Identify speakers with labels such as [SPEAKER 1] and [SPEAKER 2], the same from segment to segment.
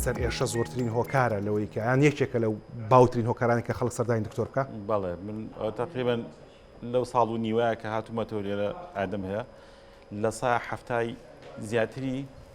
[SPEAKER 1] سەر ئێشە زۆرترین هۆکارە لەوەی کە یان یەکێکە لە باوترین هۆکارانی کە خەڵک سەردانی دکتۆر بکە بەڵێ من
[SPEAKER 2] تقریبن لەو ساڵ و نیوە کە هاتوومەتەوە لێرە ئادەم هەیە لە سا هەفتای زیاتری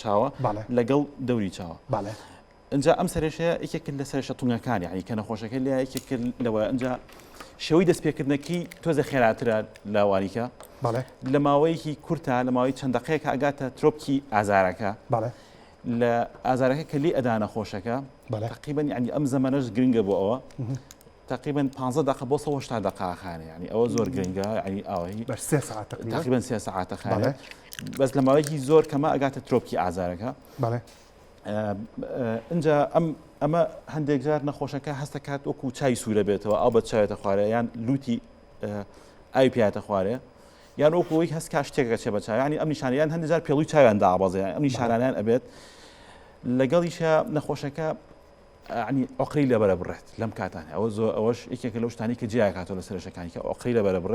[SPEAKER 2] چاوە لەگەڵ دەوری چاوە باە ئەجا ئەم سەرێشەیە یەکێک لە سەرشە تونەکانی عنی کە نەخۆشەکە لە یەکێک لەوە ئەجا شێوەی دەستپێکردنەکەی تۆزە خێراترە لاواریکە لە ماوەیەکی کورتە لە ماوەی چەند دقەیەکە ئەگاتە ترۆپکی ئازارەکە لە ئازارەکە کە لی ئەدانە خۆشەکە تقیبنی عنی ئەم زەمەەش گرنگە بۆ ئەوە تقریبەن پانزە دەقە بۆ سەوە هەشتا دەقاخانێ ینی ئەوە زۆر گرنگە ینی ئاوایی بەر سێ ساعت تقریبەن سێ ساعتە خانێ بەس لە ماوەیەکی زۆر کەمە ئەگاتە ترۆپکی ئازارەکە بەڵێ اینجا ئەم ئەمە هەندێک جار نەخۆشەکە هەستە کات وەکو چای سوورە بێتەوە ئەو بە چاوێتە خوارێ یان لوتی ئاوی پیاتە خوارێ یان وەکوی هەست کا شتێکە چێ بە چاوانی ئەم نیشانیان هەندێک جار پێڵوی چاویان دابازێ ئەم نیشانانیان ئەبێت لەگەڵیشە نەخۆشەکە یەعنی ئۆقرەی لەبەرە بڕێت لەم کاتانە ئەوە زۆر ئەوەش یەکێکە لەو شتانەی کە جێیاکاتەوە لە سەرێشەکانی کە ئۆقرەی لەبەرە بڕێ